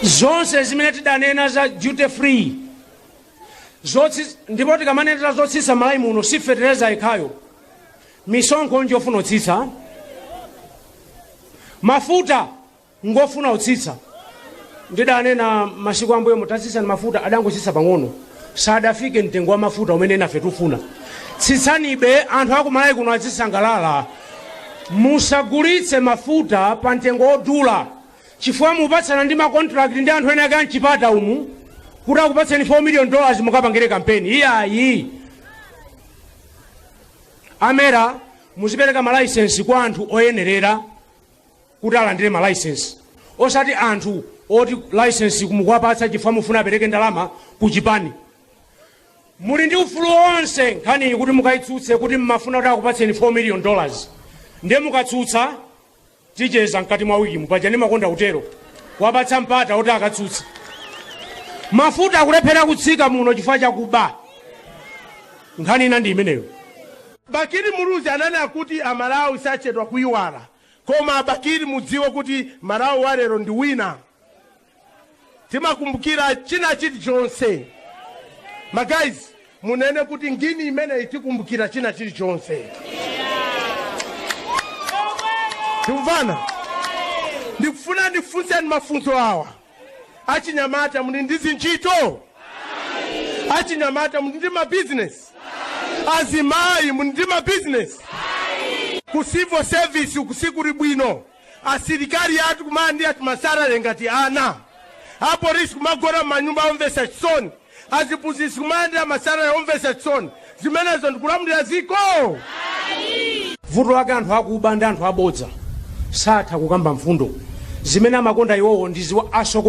zonse zimene tidanena za duty free ndipo tikamanena zotsitsa malayi muno si fetereza yekhayo misonkho njofuna utsitsa mafuta ngofuna utsitsa ndidanena masiku ambuyo muti tsitsani mafuta adangotsitsa pang'ono sadafike mtengo wa mafuta umene nafe tufuna tsitsanibe anthu akumalayi kuno azisangalala musagulitse mafuta pa mtengo wodula chifukwa mupatsana ndi ma contract ndi anthu enaake a m'chipatamu kuti akupatseni 4 million dollars mukapangire kampeni iyayi a MERA muzipereka malaisensi kwa anthu oyenerera kuti alandire malaisensi osati anthu oti laisensi mukuwapatsa chifukwa mufuna apereke ndalama ku chipani muli ndi ufulu wonse nkhaniyi kuti mukayitsutse kuti mmafuna kuti akupatseni 4 million dollars ndiye mukatsutsa ticheza mkati mwa wikimu paja ndimakonda kutero kuwapatsa mpata oti akatsutse mafuta akulephera kutsika muno chifukwa chakuba nkhani ina ndi imeneyo bakili muluzi ananena kuti amalawi sachedwa kuyiwala koma a bakili mudziwe kuti malawi walero ndi wina timakumbukira china chilichonse magayizi munene kuti ngini imeneyi tikumbukira china chilichonse tikumvana ndikufuna ndifunseni mafunso awa achinyamata muli ndi zintchito achinyamata muli ndi mabizinesi azimayi muli ndi mabizinesi ku civil service uku sikuli bwino Asilikali athu kumalandira tumasalale ngati ana, apolisi kumagona m'manyumba omvetsa chisoni, aziphunzitsi kumalandira masalale omvetsa chisoni, zimenezo ndi kulamulira dziko? Ayi. Vuto lake anthu akuba ndi anthu abodza satha kukamba mfundo zimene amakonda iwowo ndi ziwawa asokoneze.